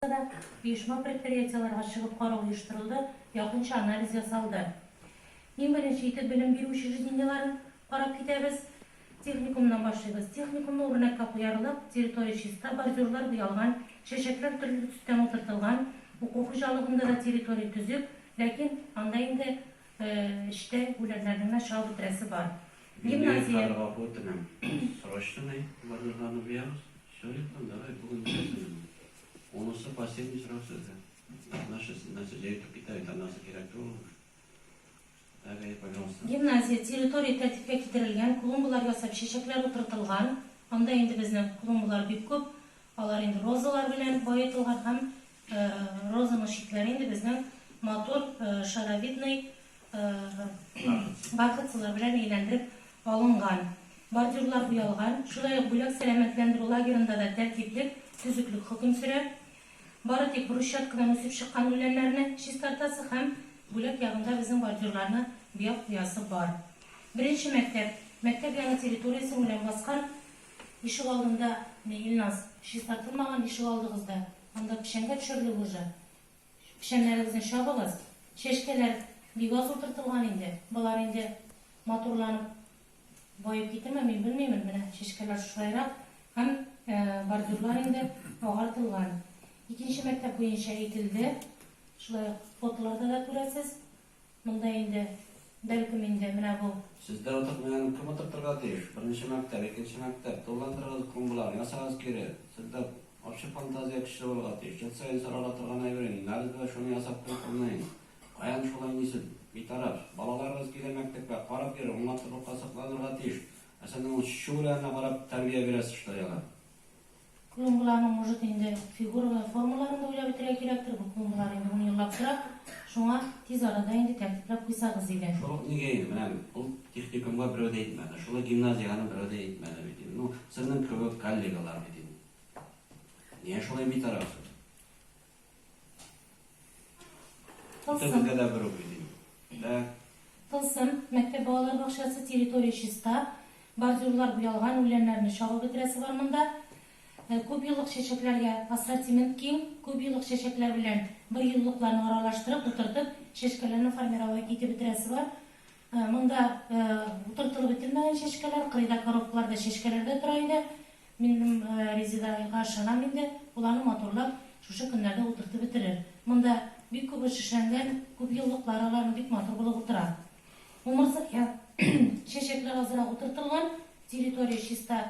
Башкортстанда да оешма-предприятиеләргә чыгып карау оештырылды, якынча анализ ясалды. Иң беренче итеп белем бирү учреждениеләрен карап китәбез. Техникумнан башлыйбыз. Техникумны үрнәккә куярлык, территория чиста, бордюрлар буялган, чәчәкләр төрле төстән утыртылган. Уку хуҗалыгында да территория төзек, ләкин анда инде эчтә үләннәрне генә чабып бетерәсе бар. Гимназия. Мине Кара Гафу итемең. Срочнымый барырга Нубиягыз? Все яктан, давай, бүген бетәсен инде. Унысы последний срок сездә. Наши сеннәсе җәйтү китә, итанасы кирәк түгелме? Әгәй, пожалуйста. Гимназия, территория тәртипкә китерелгән, клумбалар ясап, чәчәкләр утыртылган. Анда инде безнең клумбалар бик күп. Алар инде розалар белән баетылган һәм Розаның читләре инде безнең матур шаровидный бархатсылар белән әйләндереп алынган. Бордюрлар буялган. Шулай ук бүләк сәламәтләндерү лагерында да тәртиплек, төзеклек хөкем сөрә. Бары тик брусчаткадан үсеп чыккан үләннәрне чистартасы һәм бүләк ягында безнең бордюрларны буяп куясы бар. Беренче мәктәп, мәктәп яны территориясен үлән баскан, ишегалдында, менә Илназ, чистартылмаган ишегалдыгыз да. Анда печәнгә төшерлек уже. Печәннәрегезне чабыгыз. Чәчкәләр бик аз утыртылган инде. Болар инде матурланып баеп китеме, мин белмимен. Менә чәчкәләр шушайрак һәм бордюрлар инде агартылган. Икенче мәктәп буенча әйтелде. Шулай ук фотоларда да күрәсез. Монда инде, бәлкем инде, менә бу. Сездә утыртмаганын кем утыртырга тиеш? Беренче мәктәп, икенче мәктәп, тулыландырыгыз клумбаларны, ясагыз кире. Сездә общий фантазия көчле булырга тиеш. Ел саен сорарга торган әйбер инде, налез белән шуны ясап куй кулнең. Каян шулай нисез, битараф? Балаларыгыз килә мәктәпкә, карап йөрер, уңган сырлыкка сокланырга тиеш. Ә сез аның чү-ләренә карап тәрбия бирәсез, что яла. Клумбаларның, может, инде фигуралы формаларын да уйлап үтәргә кирәктер, бу клумбалар инде ун еллап тора, шуңа тиз арада инде тәртипләп куйсагыз иде. Шул ук нигә инде, менә ул техникумга берәү дә әйтмәде, шул ук гимназиягә берәү дә әйтмәде бит инде, ну, сезнең кебек коллегалар бит инде. Нигә шулай битарафсыз? Тылсым. Тәтәдә бер укый дим. Дә. Тылсым, мәктәп балалар бакчасы, территория чиста, бордюрлар буялган, үләннәрне чабып бетерәсе бар монда. Күпьеллык чәчәкләргә ассортимент киң, күпьеллык чәчәкләр белән берьеллыкларны аралаштырып, утыртып, чәчкәләрне формировать итеп бетерәсе бар. Монда утыртылып бетермәгән чәчкәләр, кырыйда коробкалар да чәчкәләр дә тора иде. Минем Резеда га ышанам инде, ул аны матурлап шушы көннәрдә утыртып бетерер. Монда бик күп эш эшләнгән, күп еллыклар алар, бик матур булып утыра. Умырзая чәчәкләр азрак утыртылган, территория чиста,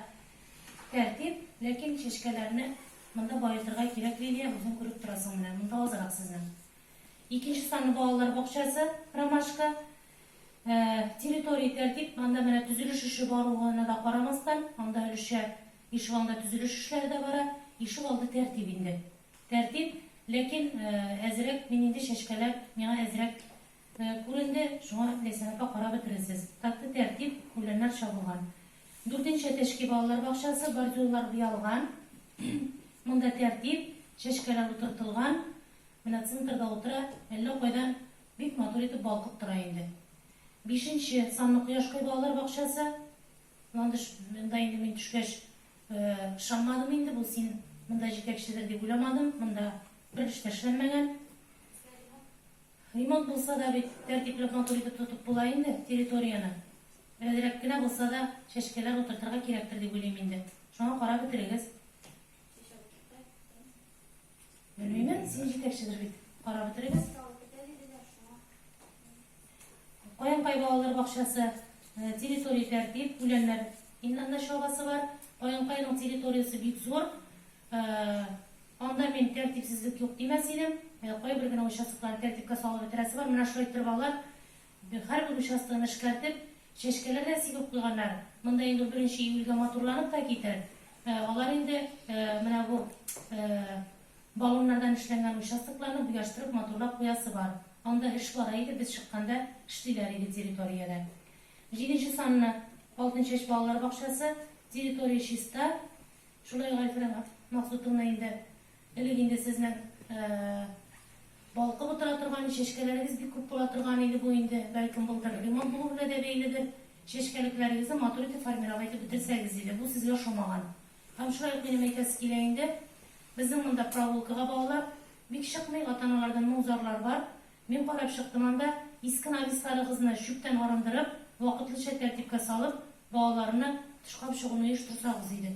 тәртип, ләкин чәчкәләрне монда баетырга кирәк, Лилия, үзең күреп торасың менә, монда азрак сезнең. Икенче санлы балалар бакчасы, Ромашка, территория тәртип, анда менә төзелеш эше баруына да карамастан, анда өлешчә ишегалды төзелеш эшләре дә бара. Ишегалды тәртип инде. Тәртип, ләкин әзрәк, мин инде чәчкәләр миңа әзрәк күренде, шуңа Ләйсән апа карап бетерерсез. Такта тәртип, үләннәр чабылган. Дүртенче әтәчки балалар бакчасы, бордюрлар буялган. Монда тәртип, чәчкәләр утыртылган. Менә центрда утыра, әллә кайдан бик матур итеп балкып тора инде. Бишенче санлы кояшкай балалар бакчасы. Ландыш, монда инде мин төшкәч ышанмадым инде, бу син монда җитәкчедер дип уйламадым, монда бер эш тә эшләнмәгән. Ремонт булса да бит, тәртипләп матур итеп тотып була инде территорияне. Берәзрәк кенә булса да чәчкәләр утыртырга кирәктер дип уйлыйм инде. Шуңа карап бетерегез. Белмимен, син җитәкчедер бит. Карап бетерегез. Каенкай балалар бакчасы э, территория тәртип, үләннәр иннәннә чабасы бар. Каенкайның территориясе бик зур. Э, анда мин тәртипсезлек юк димәс идем. Э, кайбер генә участоклар тәртипкә салып бетерәсе бар. Менә шулай торып алар. Һәрбер участогын эшкәртеп, чәчкәләр дә сибеп куйганнар. Монда инде унберенче июльгә матурланып та китәр. Алар инде менә бу баллоннардан эшләнгән участокларны буяштырып, матурлап куясы бар. Анда эш бара иде, без чыкканда эшлиләр иде территориядә. Җиденче санлы Алтын чәч балалар бакчасы, территория чиста. Шулай Гайфрәм Максутовна инде Элек инде сезнең балкып утыра торган чәчкәләрегез бик күп була торган иде, бу инде, бәлкем, былтыр ремонт булу белән дә бәйледер, чәчкәлекләрегезне матур итеп формировать итеп бетерсәгез иде, бу сезгә ошамаган. Һәм шулай ук минем әйтәсе килә инде, безнең монда проволкага балалар бик чыкмый, ата-аналардан моң-зарлар бар. Мин карап чыктым анда, иске навесларыгызны чүптән арындырып, вакытлыча тәртипкә салып, балаларны тышка чыгуны оештырсагыз иде.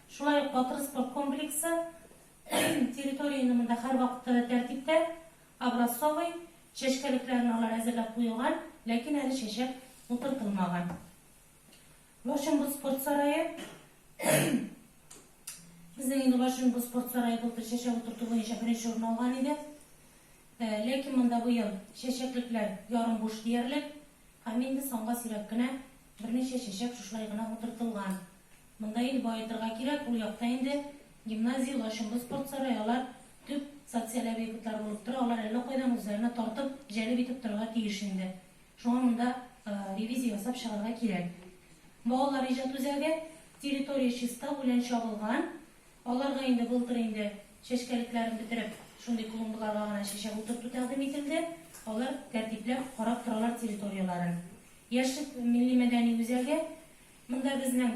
Шулай ук батыр спорт комплексы территорияне монда һәрвакытта тәртиптә, образцовый, чәчкәлекләрен алар әзерләп куелган, ләкин әле чәчәк утыртылмаган. Лачынбыз спорт сарае Безнең инде Лачынбыз спорт сарае былтыр чәчәк утырту буенча беренче урын алган иде. Ләкин монда быел чәчәклекләр ярым буш диярлек, Һәм инде санга сирәк кенә берничә чәчәк шушылай гына утыртылган. Монда инде баетырга кирәк, ул якта инде гимназия, лачынлы спорт сарае, алар төп социаль объектлар булып тора, алар әллә кайдан үзләренә тартып, җәлеп итеп торырга тиеш инде. Шуңа монда ревизия ясап чыгарга кирәк. Балалар иҗат үзәге, территория чиста, үлән чабылган, Алар да инде былтыр инде чәчкәлекләрен бетереп, шундый клумбаларга гына чәчәк утырту тәкъдим ителде. Алар тәртипләп карап торалар территорияләрен. Яшьлек милли-мәдәни үзәге, монда безнең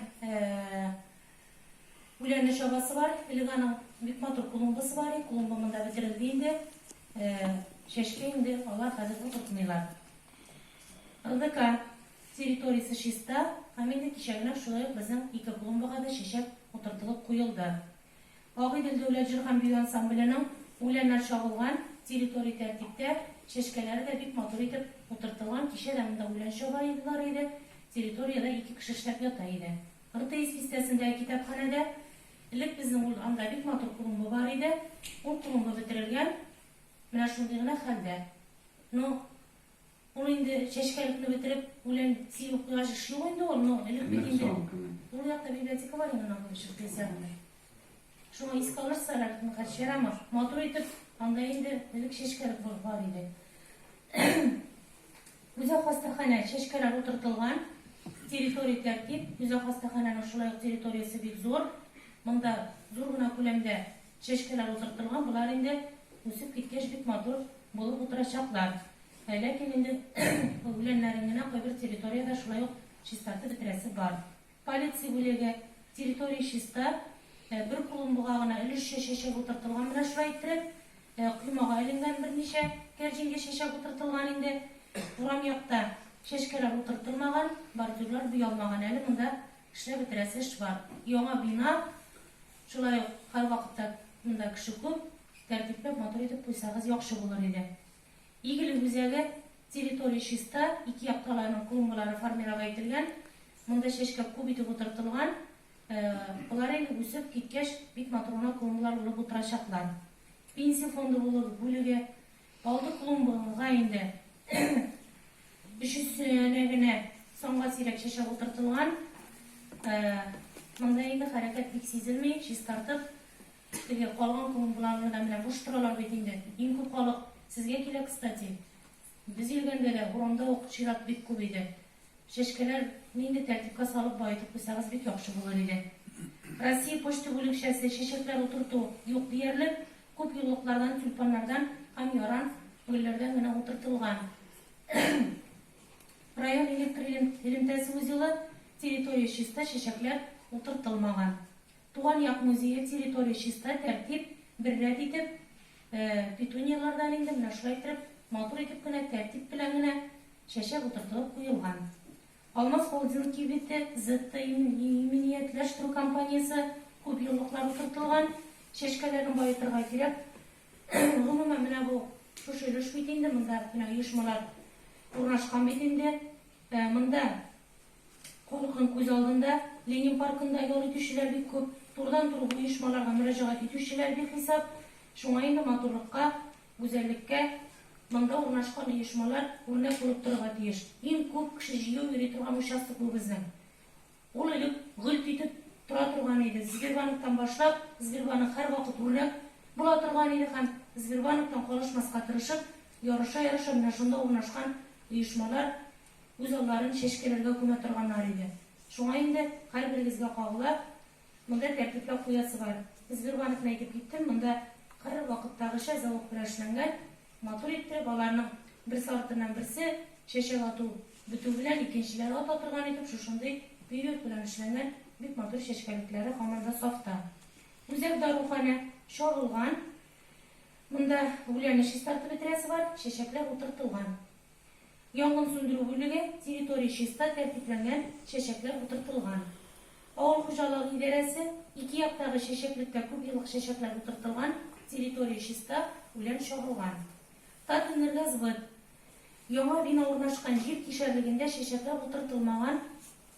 үләнле чабасы бар. Элек аның бик матур клумбасы бар иде, клумба монда бетерелде инде. Чәчкә инде алар хәзер утыртмыйлар. РДК. Территориясе чиста һәм инде кичәгеләп шулай ук безнең ике клумбага да чәчәк утыртылып куелды. Агыйдел дәүләт җыр һәм бию ансамбленең үләннәр чабылган территория тәртиптә, чәчкәләре дә бик матур итеп утыртылган, кичә дә монда үлән чабалар иде, территориядә ике кеше эшләп ята иде. Ртс бистәсендәге китапханәдә элек безнең ул анда бик матур клумба бар иде, ул клумба бетерелгән, менә шундый гына хәлдә. Ну. Ул инде чәчкәлекне бетереп, үлән сибеп куйгач, эш юк инде ул, но элек бит инде. Ул якта библиотека бар инде, нахуй чыгып килсәң. Шуңа искә алырсыз әле, кач ярамас. Матур итеп, анда инде элек чәчкәлек булып бар иде. Үзәк хастаханә чәчкәләр утыртылган, территория тәртип, үзәк хастаханәнең шулай ук территориясе бик зур. Монда зур гына күләмдә Чәчкәләр утырттырган, болар инде үсеп киткәч бик матур булып утырачаклар. Ләкин инде үләннәрен генә кайбер территориядә шулай ук чистартып бетерәсе бар. Полиция бүлеге, Территория чиста, бер клумбага гына өлешчә чәчәк утыртылган, менә шулай иттереп, коймага эленгән берничә кәрҗингә чәчәк утыртылган инде. Урам якта чәчкәләр утыртылмаган, бордюрлар буялмаган әле монда. Эшләп бетерәсе эш бар. Яңа бина, шулай ук һәрвакытта монда кеше күп, тәртипләп, матур итеп куйсагыз яхшы булыр иде. Игелек үзәге, территория чиста, ике якта аларның клумбалары формировать ителгән, монда чәчкә күп итеп утыртылган, болар инде үсеп киткәч, бик матур гына клумбалар булып утырачаклар. Пенсия фонды бүлеге, Алды клумбага инде өчесенә генә санга сирәк чәчәк утыртылган. Монда инде хәрәкәт бик сизелми, чистартып, теге калган клумбаларны да менә буш торалар бит инде. Иң күп халык сезгә килә, кстати. Без йөргәндә дә урамда ук чират бик күп иде. Чәчкәләр нинди тәртипкә салып баетып куйсагыз бик яхшы булыр иде. Россия почта бүлекчәсе, чәчәкләр утырту юк диярлек. Күп еллыклардан, тюльпаннардан һәм яра гөлләрдән генә утыртылган. Район электр элемтәсе узелы, территория чиста, чәчәкләр утыртылмаган. Туган як музее, территория чиста, тәртип, бер рәт итеп, петуниялардан инде менә шулай итеп, матур итеп кенә, тәртип белән генә чәчәк утыртылып куелган. Алмаз холдинг кибете, Зетта иминиятләштерү компаниясе күп еллыклар утыртылган, чәчкәләрен баетырга кирәк. Гомумән, менә бу шушы өлеш бит инде, монда менә оешмалар урнашкан бит инде. Монда халыкның күз алдында Ленин паркында ял итүчеләр бик күп, турыдан-туры оешмаларга мөрәҗәгать итүчеләр бихисап. Шуңа инде матурлыкка Гүзәллеккә монда урнашкан оешмалар үрнәк булып торырга тиеш. Иң күп кеше җыю йөри торган участок бу безнең. Ул элек гөлт итеп тора торган иде. Сбербанктан башлап, Сбербанк һәрвакыт үрнәк була торган иде һәм Сбербанктан калышмаска тырышып, ярыша-ярыша менә шунда урнашкан оешмалар үз алларын чәчкәләргә күмә торганнар иде. Шуңа инде һәрберегезгә кагыла, Монда тәртипләп куясы бар. Безбервановны әйтеп киттем, монда кыр вакыттагыча зәвык белән эшләнгән, матур иттереп, аларның берсе артыннан берсе чәчәк ату бетү белән икенчеләр ата торган итеп шушындый бөек белән эшләнгән бик матур чәчкәлекләре һаман да сафта. Үзәк даруханә чагылган, монда гүләне чистартып бетерәсе бар, чәчәкләр утыртылган. Янгын сүндерү бүлеге, территория чиста, тәртипләнгән, чәчәкләр утыртылган. Авыл хуҗалыгы идарәсе, ике яктагы чәчәклеккә күп еллык чәчәкләр утыртылган, территория чиста, үлән чагылган. Татэнергосбыт, Яңа бина урнашкан җир кишәрлегендә чәчәкләр утыртылмаган,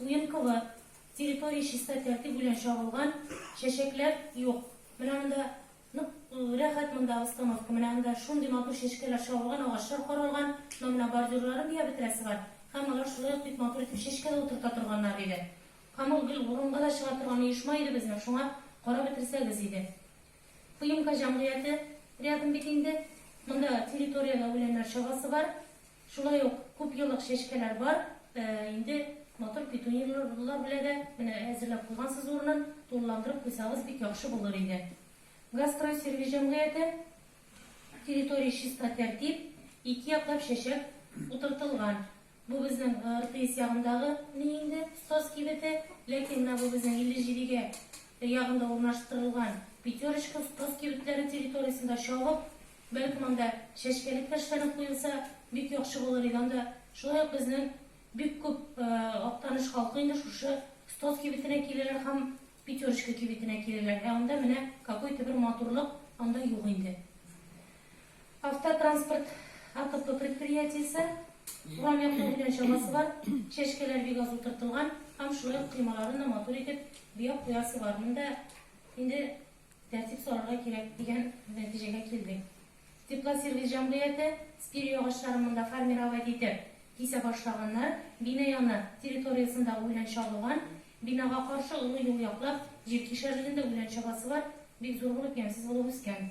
Уенкова, территория чиста тәртип белән чагылган, чәчәкләр юк. Менә монда нык рәхәт монда обстановка, менә анда шундый матур чәчкәләр чагылган, агачлар каралган, но менә бордюрларын бия бетерәсе бар. Һәм алар шулай ук бик матур итеп чәчкә дә утырта торганнар, диде. Камыл гел урынга да чыга торган оешма иде безнең, шуңа карап бетерсәгез иде. Кыймка җәмгыяте рядом бит инде. Монда территорияле үләннәр чагасы бар. Шулай ук күпьеллык чәчкәләр бар. Инде матур петуниялар белә дә. Менә әзерләп куйгансыз урынын. Тулыландырып куйсагыз, бик яхшы булыр иде. Газстройсервис җәмгыяте. Территория чиста, тәртип. Ике яклап чәчәк утыртылган. Бу безнең РТС ягындагы ни инде Стос кибете, ләкин менә бу безнең 57 гә ягында урнаштырылган Пятерочка, Стос кибетләре территориясендә чабып, бәлкем анда чәчкәлек тә эшләнеп куелса, бик яхшы булыр иде. Анда шулай ук безнең бик күп Актаныш халкы инде шушы Стос кибетенә киләләр һәм Пятерочка кибетенә киләләр, ә анда менә какой-то бер матурлык анда юк инде. Автотранспорт АТП предприятиесе, урам яклау белән чамасы бар, чәчкәләр бик аз утыртылган һәм шулай ук коймаларын да матур итеп буяп куясы бар. Монда инде тәртип сорарга кирәк дигән нәтиҗәгә килдек. Теплосервис җәмгыяте спирий агачларын монда формировать итеп кисә башлаганнар, бина яны территориясендә үлән чабылган, бинага каршы олы юл яклап җир кишәрендә үлән чабасы бар, бик зур булып ямьсез булып үскән.